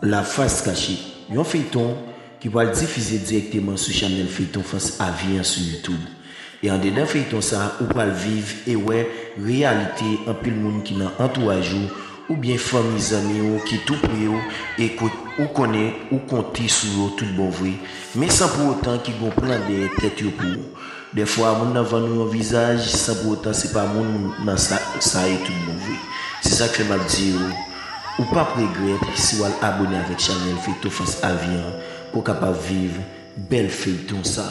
La Face Cachée, yon feyton ki pral difize dirèkteman sou chanèl feyton fans avi an sou YouTube. E andedan feyton sa ou pral viv e wè reyalite anpil moun ki nan antouraj ou oubyen fanmi zanmi ou ki tou pre ou e ke ou konnen ou konte sou yo tout bon vre men san pou otan ki gon plan dèyè tèt yo pou Dèfwa moun nan vann ou yon vizaj san pou otan se pa moun nan sa ye tout bon vre. Se sak fè map di ou, ou pap regrèt si ou al abone avèk chanèl feyton fas avi an pou ou kapab viv bèl feyton sa.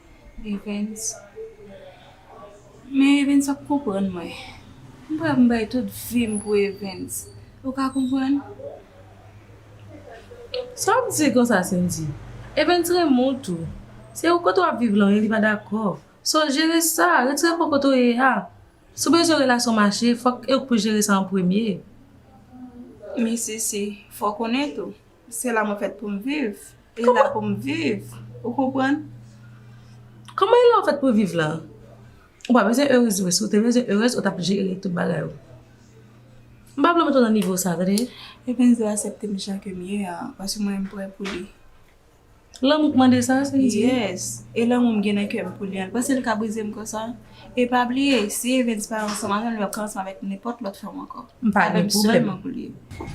Evens, Men Evens ap konprann mwen. M pa vin bay tout vi m pou Evens. Ou ka konprann? Sa w ap di konsa Sendy? Evens renmen w tou. Se ou kote w ap viv lan wi li pa dakò. So jere sa, retire kò kote w ye a. Si w bezwen relasyon mache, fòk e w k pou jere sa an premye. Men Sisi, fò w konnen tou, Se la mwen fèt pou m viv. E la pou m viv. Ou konprann? Kòman e la ou fèt pou viv la? Ou pa bezwen erez vre. Si ou te bezwen erez, ou t ap jere tout bagay ou. M pa vle w mete w nan nivo sa, tande? Ebenezer asepte m jan ke m ye a, paske mwen m prè pou li. Lanmou k mande sa, se di? Yes. E lanmou m gen nan kè m pou Lian, panse l ka brize m konsa? E pa bliye, si Evens pa ansanm avè m, l ap ka ansanm avèk nenpòt lòt fanm ankò. M pa gen pwoblèm. Avè m sèlman pou l ye.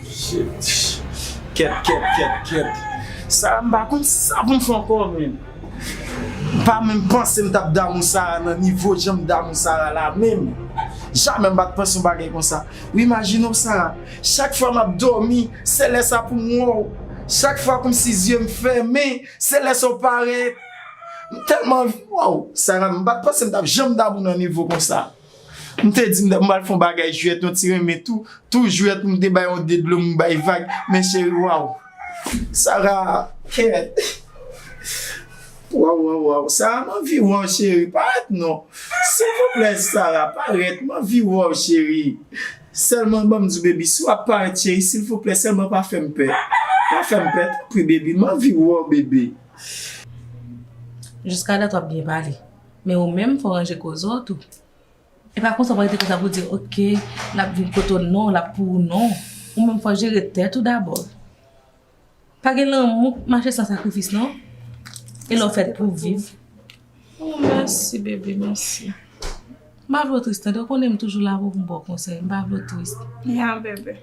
Shit! Kèt, kèt, kèt, kèt. Sa a m pa konn sa pou m fè ankò men. M pa menm panse m t ap damou Sara nan nivo jan m damou Sara la menm. Jamè m pa t panse yon bagay konsa. Wi majino sa Chak fwa map domi se lè sa poum wèw Chak fwa komsi zyeum fèmen se lè sa ou parèt M tèlman anvi wèw Sara M pat panse m tap janm damou nan nivo konsa M te di m pral fon bagay jwèt yon ti renmen tou Tou jwèt m te bay yon de dlo m bay vag Men cheri waww Sara kè. Waw waw waw sara m anvi wè w cheri parèt non silvouplè sara parèt m anvi wè w cheri sèlman banm di baby si wap parèt cheri silvouplè sèlman pa fèm pè pa fèm pè tanpri baby m anvi wè w bebe. Jiska dat wap byen pale men ou menm fò ranje koze w tou e pa konsa w pa rete konsa pou di ok lap vin kote w non lap pou ou non ou menm fò jere tèt ou dabò Pa gen lanmou k mache san sakrifis non e lè w fèt pou viv. Ooh mèsi bebe mèsi. M pa vle w tris tande, ou konnen m toujou la pou m ba w konsèy, m pa vle w tris. Ya bebe.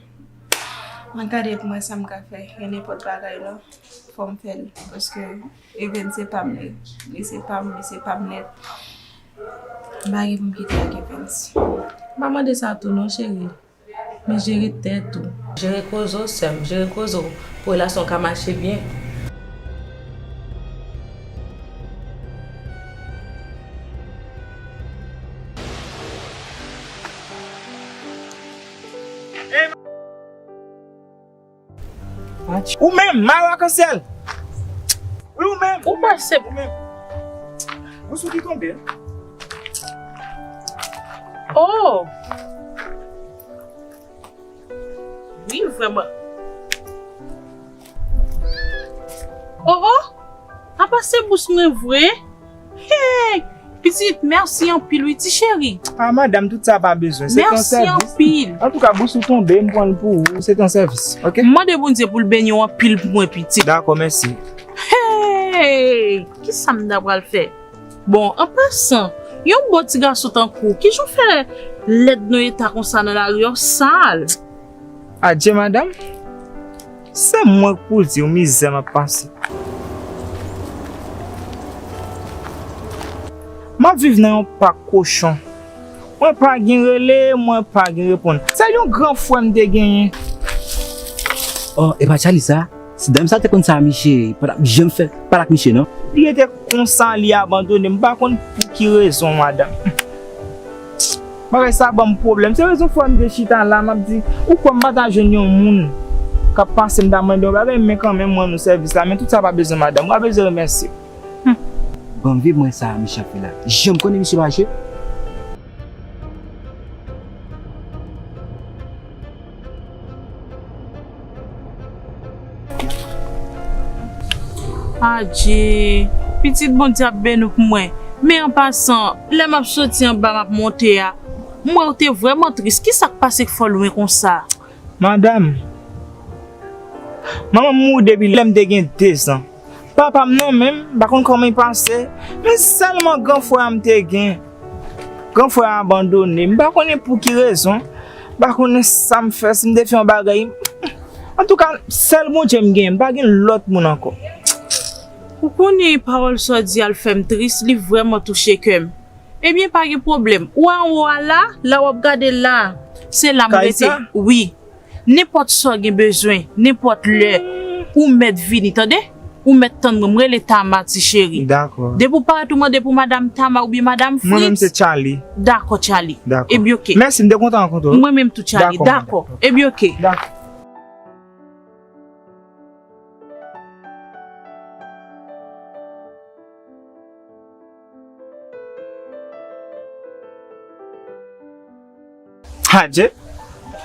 Mwen gade pou m wè sa m ka fè, e nenpòt bagay lan fò m fè l paske Even se pa m li, li se pa m, li se pa m nèt. M pa gen pou m kite l ak Evens. M pa mande sa tou non cheri. Men jere tèt ou. Jere koze w sèm. Jere koze w pou relasyon w ka mache byen. Ou menm may ou akansyèl. Wi ou menm. Ou kwè se. Ou menm. Ou sou ki tonbe. Oh. Wi vrèman. Oh oh. Apa se bous mwen vre. Hey pitit merci anpil wi ti cheri. Ah madam tout sa pa bezwen se ton sèvis. Merci anpil. Antouka bous ou tonbe m pranl pou ou se ton sèvis ok. M mande Bondye poul beniw anpil pou mwen pitit. Dakò mèsi. Hey kisa m ta pral fè. Bon an pasan yon bon ti gason tankou w kijan w fè lèd nan eta konsa nan lari a w sal. Adye madam. Se mwen k pou diw mizè map pase. Map viv nan yon pak kochon. Mwen pa gen rele, mwen pa gen reponn. Se yon gran frè m te genyen. Oh epa Charly sa? Si dam sa te konn sa misye pa tap janm fè pale ak misye non. Li rete konsa li abandone m pa konn pou ki rezon madam. Psst bagay sa banm pwoblèm se rezon fwa m te chita la map di ou kwè m pa ta jwenn yon moun kap pase m ta mande yon bagay men kanmenm m rannou sèvis la men tout sa pa bezwen madanm ou pa bezwen remèsye humm. Banm vye mwen sa misye ap fè la janm konnen misye lwaje. Adjee pitit Bondye ap beni w pou mwen men an pasan lè map soti anba map monte a m wè w te vrèman tris kisak pase k fè w lwen konsa? Madam, manman m mouri depi lè m te gen dezan. Papa m nan menm, m pa konn kòman li pase, men sèlman gran frè a m te gen. Gran frè a abandone m, m pa konnen pou ki rezon, m pa konnen sa m fè, si m te fè yon bagay. Antouka, sèl Bondye m gen, m pa gen lòt moun ankò. Ou konnen, pawòl sa w di a, l fè m tris, li vrèman touche kè m. Ebyen, pa gen pwoblèm, ou anwo a la, la w ap gade la a. Se la m rete. Kay sa? Wi. Nenpòt sa w gen bezwen, nenpòt lè, ou mèt vini, tande! Ou mèt tann mwen, m rele Tama, ti cheri. Dakò. Depi w parèt ou mande pou Madam Tama oubyen Madam Fritz. Mwen menm se Tchaly. Dakò, Tchaly. Dakò. Ebyen oke. Mèsi, m te kontan rankontre w. Mwen menm tou, Tchaly. Dakò. Ebyen oke. Dakò. Adje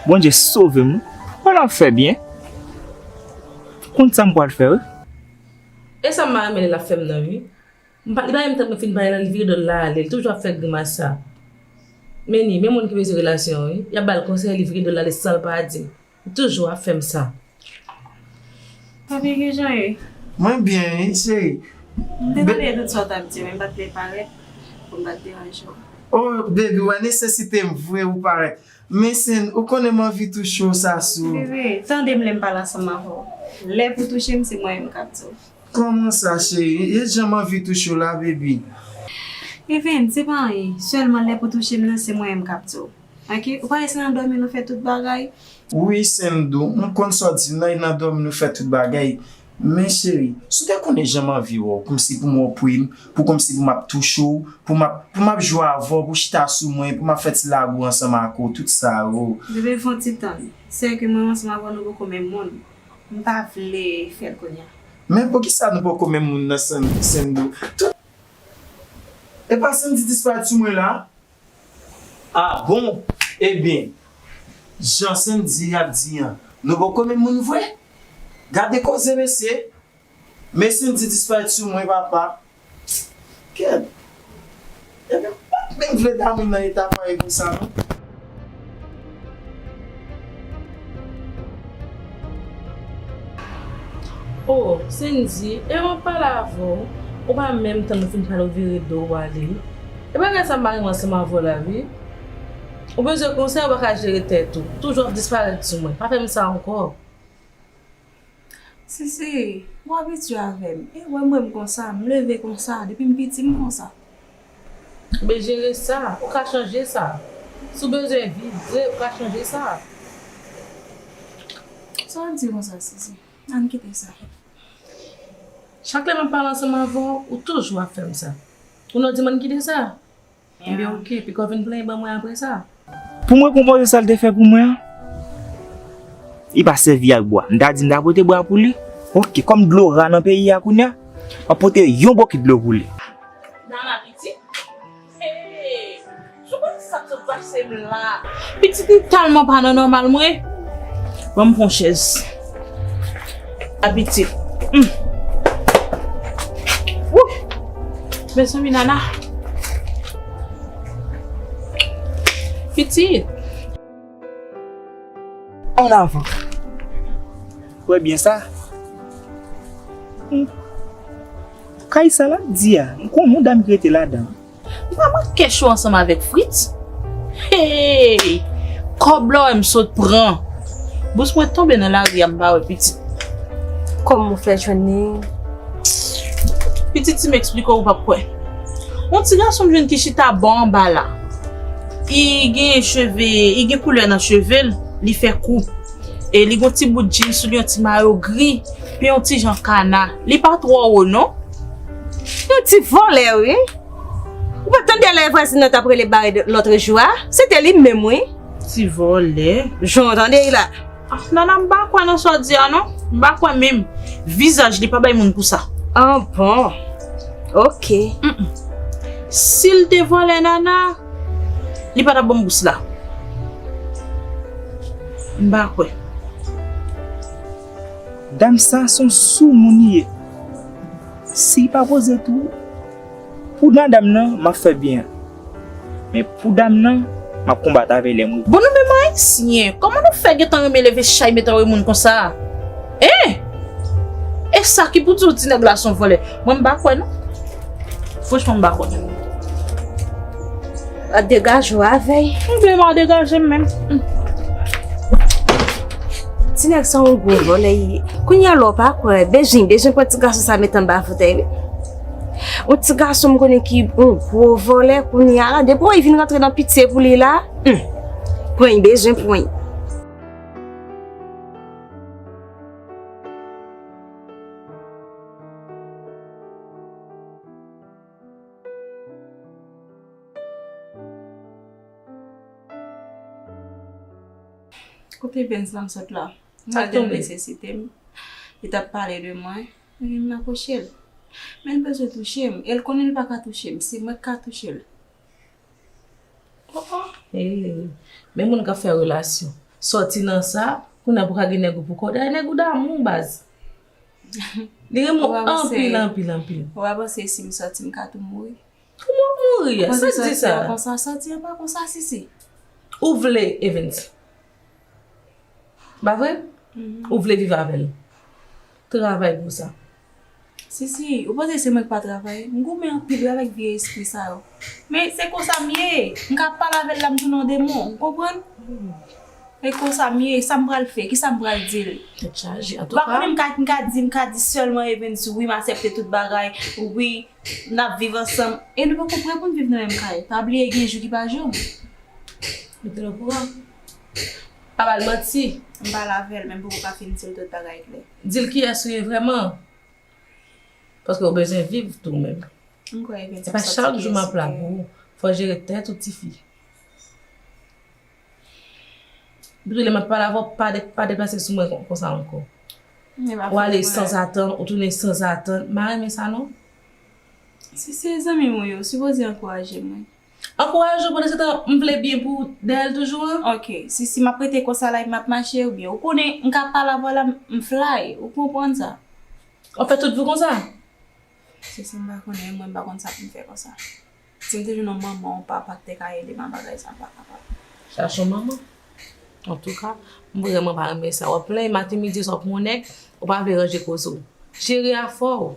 bondye sove m ou nan fè byen m konn sa m pral fè wi. Esa mma renmen li lap fem nan ui m pa li pa renmn tank mwen fin pale nan li vire dol la ale li toujou ap fè grimas sa menni men moun ki bezwen relasyon wi yap bal konsèy li vire dol ale sanl pa dim Ou toujou ap fem sa. Papi kijan ou ye? Mwen byen wi cheri. M te tande tout sa w tap di men m pat vle parèt pou m pat deranje w. Oh baby wè nesesite m vre ou parèt. Men Sen ou konnen m anvi touche w sa sou. Bebe tande m lè m pale ansanm avè w. Lè pou touche m se mwen menm kap di w. Kòman sa cheri? E jan m anvi touche w la baby. Even se pa anyen. Sèlman lè pou touche m nan se mwen menm kap di w. Ok ou pa wè se nan dòmi nou fè tout bagay. Wi Sendou m konn sa w di la e nan dòmi nou fè tout bagay men cheri si w te konnen jan m anvi wè w kòmsi pou m wè w pre m pou kòmsi pou m ap touche w pou m ap pou m ap jwe avè w pou w chita sou mwen pou m ap fè ti lago ansanm ak ou tout sa oo. Bebe fon ti tann se ke mwen menm ansanm avè w nou poko menm moun m pa vle fè l kounya. Men poukisa nou poko menm moun nan Sendou tout. Epa Sendy disparèt sou mwen la Ah bon ebyen jan Sendy ap di an nou poko menm moun vre gade koze mesye men Sendy disparèt sou mwen papa kèt ebyen m pat menm vle Damy nan eta pareil konsa non. Oh Sendy e mwen pale avè w ou pa menm tann ou fin pale ou vire do w ale e bagay sa m pa renmen ansanm avè w la wi ou bezwen konsèy ou pa ka jere tèt ou toujou ap disparèt sou mwen pa fè m sa ankò. Sisi, ou abitye avè m. E wè mwen m konsa, m leve konsa, depi m piti m konsa. Men jere sa, ou ka chanje sa. Si w bezwen viv vre, ou ka chanje sa. Sa w di konsa Sisi, an n kite sa. Chak lè m ap pale ansanm avè w, ou toujou ap fè m sa. Ou nan w di m an n kite sa? Enben ok, piko vin plenyen ban mwen apre sa. Pou mwen konpoze sa l te fè pou mwen an. Li pa sèvi ak bwa. M ta di m ta pote bwa pou li. Ok, kòm dlo ra nan peyi a kounye a, m ap pote yon bokit dlo pou li. Nana pitit? Hey! Sou konn sa k sot pase m la? Pitit m tèlman pa nan nòmal mwen. Ban m fon chèz. Abitid. Humm. Wouch. Mezanmi Nana. Pitit. An avan. Ou wè byen sa? Humm. Kay sa la di a. M konn yon dam ki rete ladan. Manman kèchou ansanm avèk Fritz? Hey! Kòb la w wè m sot pran. Bous mwen tonbe nan lari a m pa wè pitit. Kòman ou fè jwenn li? Pitit si m eksplike w ou pap kwè. Yon ti gason m jwenn ki chita bò anba la. Li gen cheve, li gen koulè nan cheve l, li fè kou. E li gen yon ti bout djin sou li, yon ti mayo gri, pi yon ti jan kana. Li pa twò wo non. Yon ti vòlè wi. Ou pa t tande lè vwazin nan t ap rele Bared lòtre jou a? Se te li menm wi. Ti vòlè. Jan w tande li la. Afnana m pa kwè nan sa w di a non. M pa kwè menm. Vizaj li pa bay moun pou sa. Ah bon. Ok. Si l te vòlè Nana, li pa t ap ban m bous la. M pa kwè. Dam sa son sou moun li ye. Si pa poze tou Pou madam nan map fè byen men Pou dam nan map konbat avè lèm wi. Bon nou menm ayisyen kòman nou fè gentan renmen leve chay met anwe moun konsa hein esa ki pou diw ti nèg la son vòlè mwen m pa kwè non franchman m pa kwè. A degaje ou avèy. M vle m a degaje m menm. Ti nèg sa yon gwo vòlè li ye. Kounya la w pa kwè Bejin, Bejin pran ti gason sa met anba foutèy li. Yon ti gason m konnen ki yon gwo vòlè kounya la depi wè li vin rantre nan pitye pou li la. Pwen Bejin pwen. Kote Benz lan sot la? M al jwenn li sesite m. Li t ap pale de mwen. Epi m apwoche l. Men l bezwen touche m. E l konnen l pa ka touche m. Se mwen ki ka touche l. Eee! Men moun k ap fè relasyon. Soti nan sa, kounye a pou w ka gen nèg ou pou kòw. Dayè nèg ou damou w baz. Li renmen ou anpil, anpil, anpil. Ou pa panse si m sòti m ka tou mouri? Tou m ap mouri? Sa k di sa? Ou panse sòti an pa kon sa, Sisi? Ou vle Evens? Pa vre? Ou vle viv avè l? Travay pou sa. Sisi, ou panse se mwen k pa travay? M goumen anpil avèk vye espri sa yo. Men se konsa m ye. M ka ap pale avè l la m tounen yon demon. Ou konprann? Se konsa m ye. Sa m pral fè? Kisa m pral di l? Tèt chaje. Antouka. Ou pa konnen m ka m ka di m ka di sèlman Evens wi m asèpte tout bagay, wi n ap viv ansanm. E nou poko prè pou n viv nan menm kay. Pa bliye gen jou ki pa jou. Mete l okouran. Pa ba l manti. M pale avè l men m poko ka fin di l tout bagay klè. Di l kiyès ou ye vrèman. Paske ou bezwen viv tou menm. M kwè evens ap soti pyès. Se pa chak jou map la pou ou. Fò jere tèt ou tifi. Depi lè map pale avè w pa deplase sou mwen konsa ankò. Ou ale sanzatann ou tounen sanzatann. M pa renmen sa non. Si se zanmi m ou ye ou sipoze ankouraje mwen. Ankouraje yo pandan se tan m vle byen pou dèyèl toujou an. Ok sisi map rete konsa la epi map mache oubyen ou konnen m ka pa la vwala m fly ou konprann sa. Wap fè tout vi w konsa? Sisi m pa konnen mwen m pa konn sa poum fè konsa. Sim te jwenn yon manman yon papa ki te ka edem a bagay sa m pa kapab. Chache yon manman. Antouka m vrèman pa renmen sa wap plenyen maten midi e swa pou yon nèg ou pa vle ranje koze w. Jere afè w.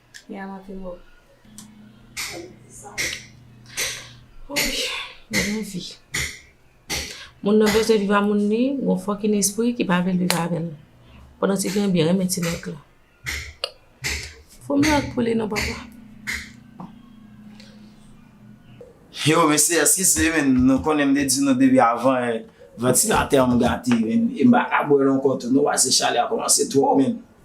Mia monte ho. Lavi. Moun nan bezwen viv a moun li, gon fòkin espri ki pa vle l viv avè l. Pandan ti fi an byen renmen ti nèg la. Fò m ak pou li non papa. Yo mesye eske se menm nou konnen m te di nou depi avan vantilatè an m gate menm e m pa ka bwè l ankò tou non paske chalè a kòmanse twò menm.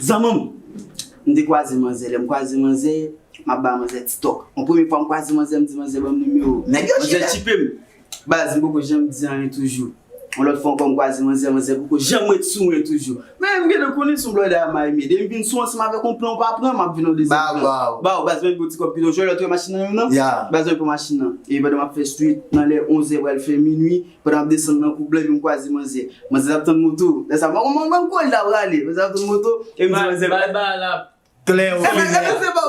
Zanman m, m te kwaze manzè. Lè m kwaze manzè, m ap ba manzè ti tòk. Yon premye fwa m kwaze manzè, m di manzè ban m nimewo w. Manzè tchipe m. Baz, m poko janm di anyen toujou. Yon lòt fwa ankò m kwaze manzè, manzè poko janm ret sou mwen toujou. Men, m gentan konnen se yon blòdè a may mede. M vin sou ansanm avèk yon plan w pa pran, m ap vin yon dezyèm plan. Ba w, ba w. Baz, ban m yon ti kòb pito. Jwenn lòt yon machin nan menm nan? Ya. Baz, ban m yon machin nan. Epi pandan m ap fè street, nan lè onzè pral fè minui, Mwen tap desann nan kou blèd mwen kwaze manzè. Manzè tap tann moto. Lè sa mwen konn manm koulda prale. Manzè tap tann moto e m di manzè. Bay bal ap. Klè ok men.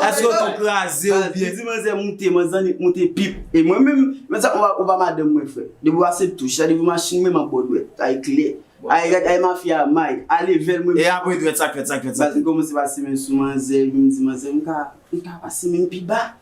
Eske oto kraze ou byen. M di manzè moute. Manzè annik moute pip. E mwen menm. Mwen sa ou pa madanm mwen frè. Depi wa se touch. Sa depi machin menm ap bo dwèt. Ay klè. Ay gad ay mafya a may. A level mwen. E apre dwèt sak fèt sak fèt sak fèt. M komanse pase menm sou manzè. Epi m di manzè m ka. M ka pase menm pi ba.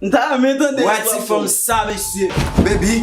M ta renmen tande Wè ti fanm sa mesye. Baby.